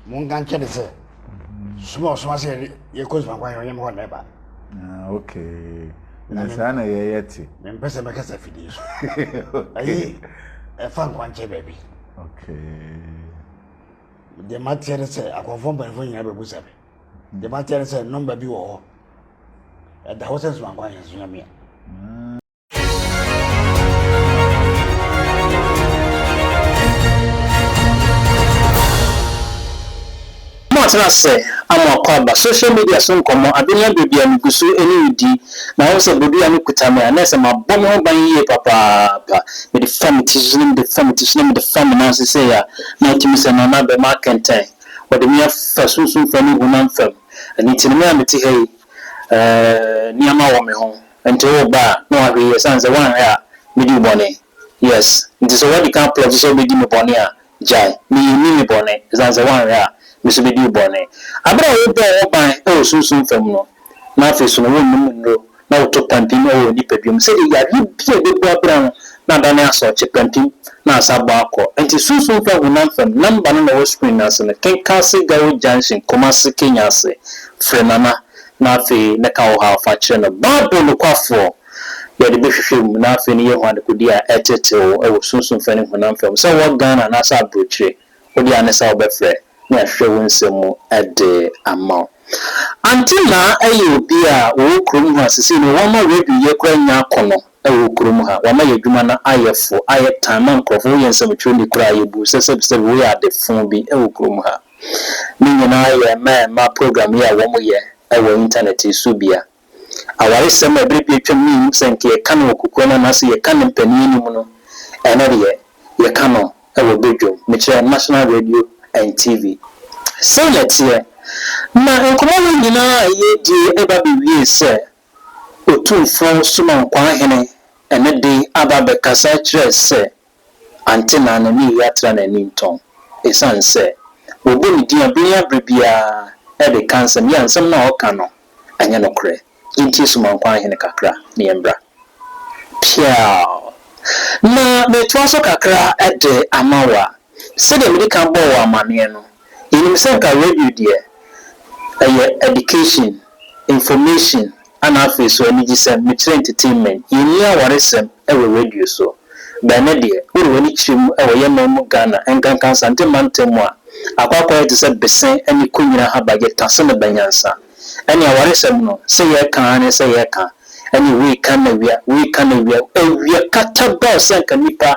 Monka nkyɛ ne sɛ, soma a ɔsoma sɛ yɛkɔ suma kwan ɔnyɛ me hɔ na ɛba. Ah, okay. Na saa na yɛyɛ te. Mempɛ sɛ mɛkasa fidie so. Ɛyi, ɛfa nkwankyɛ baabi. Okay. Deɛ mateɛ ne sɛ akɔmfoɔ mpanimfoɔ nyinaa bɛbu sa me. Hmm. Deɛ mateɛ ne sɛ nɔmba bi wɔ hɔ. Ɛda hɔ sɛ soma kwan yɛ nso nyamea. Wɔatena ase ama akwaaba. Social media so nkɔmmɔ, adwene abrɛ bi a migu so ne wo di, na woahu sɛ bodua no kuta me a, na ɛsɛ mabɔ me ho ban yiye papaapa. Mede fa me ti so na mede fa me ti so na mede fa me nan ase sei a, na atumi sɛ Nana abam akɛntɛn. Wɔde me afa sunsum fam ne honam fam. Ɛno nti no, me a mete ha yi, eh, nneɛma wɔ me ho. Nti wo ba a na wahwɛ yi ɛsiane sɛ woanhwɛ a medi wo bɔne? Yes. Nti sɛ woadi kan pledge sɛ wobɛdi me bɔne a, gyae. Me yi nni me bɔne ɛsiane sɛ woanhwɛ a me nso bɛdi wo bɔne. Aberɛ a wobɔɔ wo ho ban wɔ sunsum fam no, na afei nso no wonnom nnuro na woto pampim wɔ w'nipadua mu sɛdeɛ yareɛ bi a ɛbɛbu abira no na adane asɔɔkye pampim na asan abɔ akɔ. Nti sunsum fam, honam fam, number no na ɛwɔ screen no ase no, kenkan Segawo Junction, Kumasi, Kenya ase, frɛ Nana Na afei mɛka wo haw fa kyerɛ no. Bible nokwafoɔ, yɛde bɛhwehwɛ mu na afei ne yɛahu adekode a ɛtetew wɔ sunsum fam ne honam fam. Sɛ wowɔ Ghana anaasɛ aburokyire, wo deɛ ane sɛ wobɛfrɛ na yɛahwehwɛ wo nsɛm mu de ama wo. Antenna yɛ obi a ɔwɔ kurom ha, seesei no wɔama radio yɛ koraa nya akono. wɔ kurom ha. Wɔama yɛn adwuma no ayɛ fo, ayɛ tan ma nkurɔfo. Woyɛ nsɛmtwerɛni koraa a, yebu wo sɛ sɛbisɛbi woyɛ ade fõ bi wɔ kurom ha. Ne nyinaa yɛ mma ɛmma program yi a wɔyɛ wɔ intanɛt yi so bia. Awaresɛm a bere bi atwam no yennim sɛ anka yɛka no wɔ kokoam anaa sɛ yɛka no mpanin anim no, ɛnnɛ deɛ yɛka no wɔ badwam, mekyerɛ National Radio and TV. Sei na ɛteɛ. Na nkɔmmɔ wei nyinaa a yɛredie reba abɛwiee sɛ Otumfoɔ Somankwaa Hene ɛnnɛ de aba abɛkasa akyerɛ sɛ Antenna no ne yi atra n'ani ntɔn esiane sɛ wɔbɔ ne din bere ya bere biara de ka nsɛm yi a nsɛm no a ɔka no ɛnyɛ nokorɛ. Yɛntie Somankwaa Hene kakra na yɛmmra. Peaw! Na metoa so kakra de ama wo a, sɛdeɛ mede kan bɔɔ wo amanneɛ no, Yɛnim sɛ nka radio deɛ ɛyɛ education, information ana afei so anigyesɛm, mekyerɛ entertainment. Yɛnni awaresɛm wɔ radio so. Bɛn ne deɛ? Wode w'ani kyerɛ mu wɔ yɛn man mu Ghana, ɛnkanka Asante mantam mu a, akɔ akɔyɛ te sɛ bese ne konyina ahaba, yɛta sene ba nyansa. Ɛne awaresɛm no, sɛ yɛreka ara ne sɛ yɛreka, ɛne woi ka na wia, woi ka na wia, awia katabɛw sɛ nka nnipa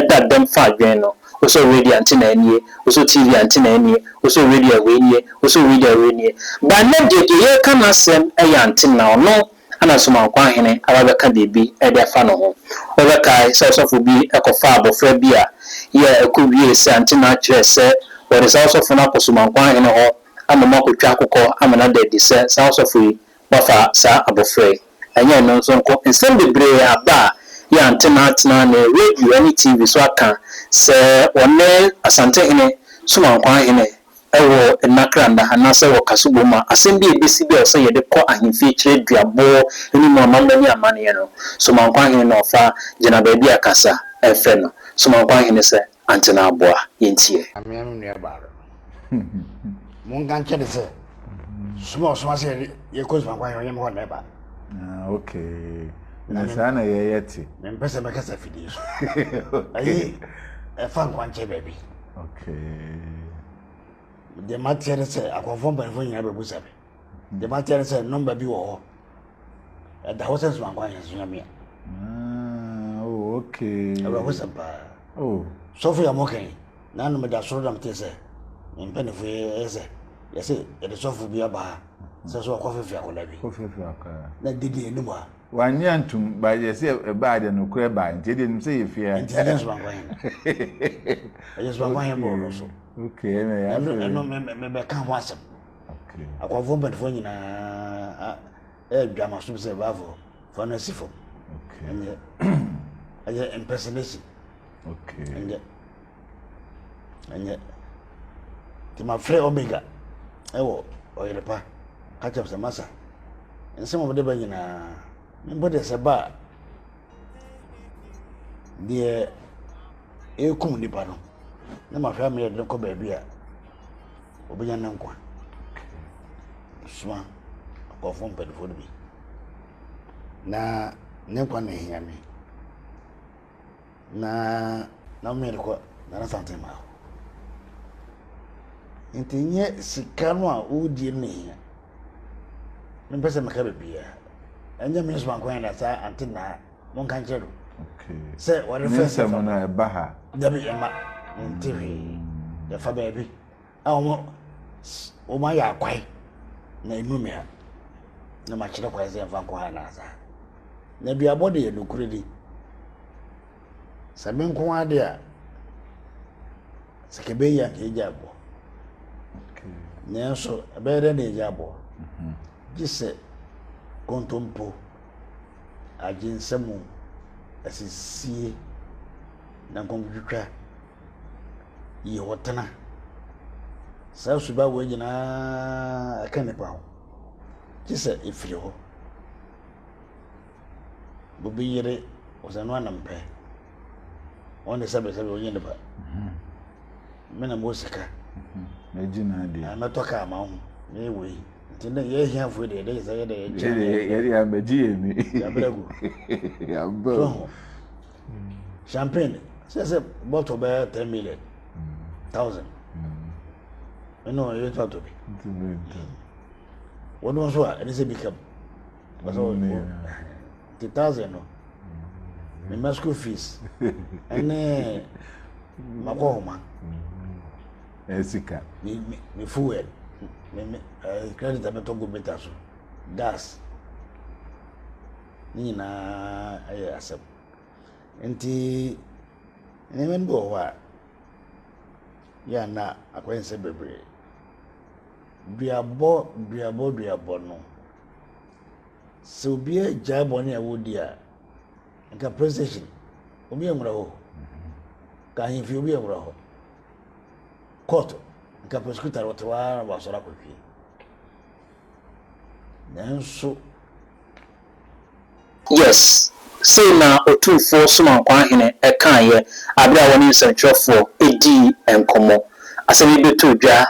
da dɛm fa adwene no. Wosɔ radio a nte na ɛnie, wosɔ TV a nte na ɛnie, wosɔ radio a wei nie, wosɔ radio a wei nie. But nnɛ deɛ, deɛ yɛreka no asɛm yɛ ante na ɔno ɛna Somankwa Hene aba abɛka biribi de afa ne ho. Wobɛkae sɛ ɔsɔfo bi kɔfaa abɔfra bi a yɛ ɛkɔ wiee sɛ ante na akyerɛ sɛ wɔde saa ɔsɔfo no akɔ Somankwa Hene hɔ ama ɔmo akɔtwa akokɔ ama no ada adi sɛ saa ɔsɔfo yi Wɔafa saa abofra yi, ɛnyɛ ɛno nso nko, nsɛm bebree aba a yɛante no atena ne radio ne TV so aka sɛ ɔne Asantehene Somankwaa Hene wɔ nna kra nna anaasɛ wɔka so bom a asɛm bi a ɛbɛsi bi a ɔsɛ yɛde kɔ ahemfie kyerɛ duabɔ ne mu amammerɛ ne amanneɛ no, Somankwaa Hene na ɔfa gyina baabi a kasa mfrɛ no Somankwaa Hene sɛ. Ante na aboa yɛn ti ɛ. Amea me nua baa no. Monka nkyɛ ne sɛ sum a ɔsoma sɛ yɛ kɔ suma kwan yɛ ɔnyɛ me hɔ na ɛba. Ah okay. Na saa na yɛ yɛ te. Me mpɛ sɛ mɛka sɛ fidie so. Ɛyɛ ɛfa nkwa nkyɛ baabi. Okay. Deɛ mateɛ ne sɛ akɔnfoɔ mpanyinfoɔ nyinaa bɛbusa me. Deɛ mateɛ ne sɛ nɔmba bi wɔ hɔ ɛda hɔ sɛ nsomankɔ ahwɛso nyame a. Ah, oh, okay. Awerɛhosɛm paa. Oh. Sɔfo yɛ mo kan na no meda soro na mete sɛ mpanyinfo yɛ sɛ yɛsɛ yɛde sɔfo bi aba ha sɛ so ɔkɔ fɛfɛ akɔda bi. Kɔ fɛfɛ akɔda. Na didi yɛ nimu a. Wanyɛ ntum ba yɛsɛ ɛbaa deɛ no korɛ baa nti deɛ nim sɛ yɛ fia. Nti ɛyɛ nsomankɔ yɛn. Ɛyɛ nsomankɔ yɛn bɔɔlɔ so. Okay, ɛna yɛ afɛ. Ɛno mebɛka ho asɛm. Akoafoɔ mpanimfoɔ nyinaa ɛredwa ma som sɛ baafoɔ fa no asi fam ɛnyɛ ɛyɛ impersonation ɛnyɛ ɛnyɛ nti mafrɛ omega ɛwɔ ɔyerepa ka kyɛm sɛ masa nsɛm ɔmde ba nyinaa mpo deɛ sɛ ba a deɛ ɛkum nipa no na mafrɛ ameyɛ de no kɔ baabi a Obenya ne nkwa. Soma nkurɔfoɔ mpanimfoɔ no bi na ne nkwa na ehia me na na mmea de kɔ Nana Asante mmaa hɔ. Nti nyɛ sika no a wodie no na ehia. Mempɛ sɛ meka baabiara. Ɛnyɛ me nso anko na saa ante naa monka nkyerɛ no sɛ wɔde fɛ sɛ fa no ɛba ha dabi ɛma nte hwee yɛfa baabi a wɔn wɔn ayɛ akwae na enu me ha na makyerɛ kwae sɛ ɛfa nkɔ ha na asa na duabɔ de yɛ nokure di sɛ me nko ade a sɛ kɛbɛ yi anka egya aboɔ nanso ɛbɛyɛ dɛ na egya aboɔ gye sɛ kontompo. agye nsamu asisie na nkɔnkɔtwitwa yi hɔ tena saa suba wei nyinaa ɛka nipa ho gye sɛ ɛfiri hɔ bobi yere ɔsɛ no anam pɛ wɔn de sɛbesɛbe wɔn nnipa me na mo sika megye na adeɛ na mɛtɔ kaa ma ho na ɛwɔ yi nti dɛ yɛ ahiafoɔ deɛ dɛ sɛ yɛ dɛ yɛnkyɛ yɛde amagye yɛ ni yɛabrɛ gu yɛabrɛ so ho champagne sɛ sɛ bɔtɔ bɛyɛ ten million thousand ɛna ɔyɛ tɔ atɔ bi wɔn nso a ɛne sɛ bi ka mu Ɔsɛ o ti taze no me ma school fees ɛne makɔ homa. Ɛsika. Me me me fuel me me ɛɛ credit abɛtɔ go beta so gas ne nyinaa ɛyɛ asɛm nti nneɛma no bi wɔ hɔ a yɛ ana akɔyɛ nsɛ bebree duabɔ duabɔ duabɔ no. sɛ obi agyae bɔne a wodi a, nka police station, obi nwura hɔ. Ka ahemfie, obi nwura hɔ. Court, nka prosecutor wɔte hɔ ara na wɔasɔre akɔhwie. Nanso, Yes, sei na Otumfoɔ Somankwaa Hene kaeɛ berɛ a wɔne nsɛmtwerɛfoɔ dii nkɔmmɔ. Asɛm yi bɛtoo dwa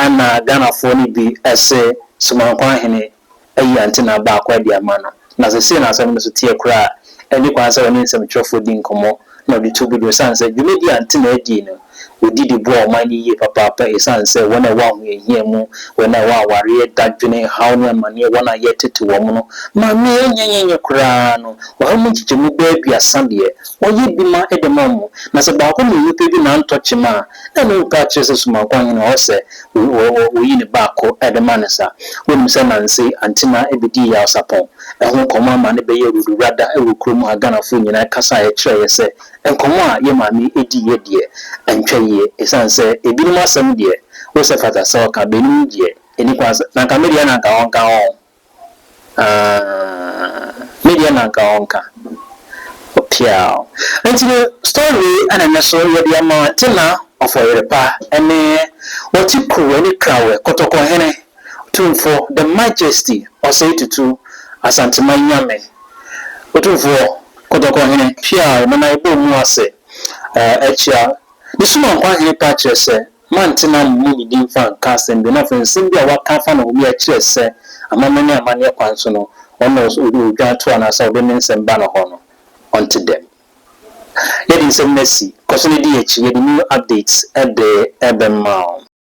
na Ghanafoɔ no bi se Somankwaa Hene ayi antenna baako adi ama no, na sɛ sei na asɛm no nso teɛ koraa a, ɛnni kwan sɛ ɔne nsɛmtwerɛfoɔ di nkɔmmɔ na ɔde tu gu dwa, ɛsiane sɛ dwumadie a antenna dii no Wodi de boa ɔman no yiye papaapa esiane sɛ wɔn a ɛwɔ ahohiahia mu, wɔn a ɛwɔ awareɛ, dadwene, haw ne amaneɛ, wɔn a yɛretete wɔn no ma mmea anya yiye koraa no, ɔha mu nkyɛkyɛmu bɛyɛ aduasa deɛ, wɔyɛ bi ma ɛde ma wɔn. Na sɛ baako mmienu pɛ bi na antɔ kyema a, na ɛno mpo akyerɛ sɛ Sumankɔ Ahene wɔ hɔ sɛ wɔyi ne baako de ma no saa. Wonim sɛ Nanse Antena bɛdii Yaw Sapɔn ho nkɔmmɔ ama no bɛyɛɛ Rodowura da wɔ kurom ha, Ghanafoɔ nyinaa kasaeɛ kyerɛeɛ sɛ, Nkɔmmɔ a yɛn maame diiɛ deɛ antwa yie ɛsiane sɛ ebinom asɛm deɛ wo sɛ fata sɛ ɔka bɛnum yi deɛ ɛni kwan sɛ na nka me deɛ na nka ɔnka ho aah me deɛ na nka ɔnka ɔpeaw nti no story wei na ɛnɛ so yɛde ama Tina Ɔfɔyerepa ɛne Wɔte Kuruwa ne Krawɛ Kɔtɔkɔhene Tumfoɔ, the Majesty, Ɔsɛe Tutu, Asanteman Nyame, Otumfoɔ, Kɔtɔkɔ Hene, Pia a Ɔnana Yɛbɔ Mu Ase, eh, Akyia, Ne Sum a Nkwa Hene Pa Kyerɛ Sɛ, Mantena Mo Mu Me Din Fa Nka Asɛm Bio, na afei nsɛm bi a waka afa ne ho bi akyerɛ sɛ amammerɛ ne amanneɛ kwan so no ɔno na odwan to anaasɛ ɔde ne nsɛm ba ne hɔ no ɔnte dɛm. Yɛde nsɛm no asi. Kɔ so na di yɛn akyi. Yɛde new updates de bɛma wo.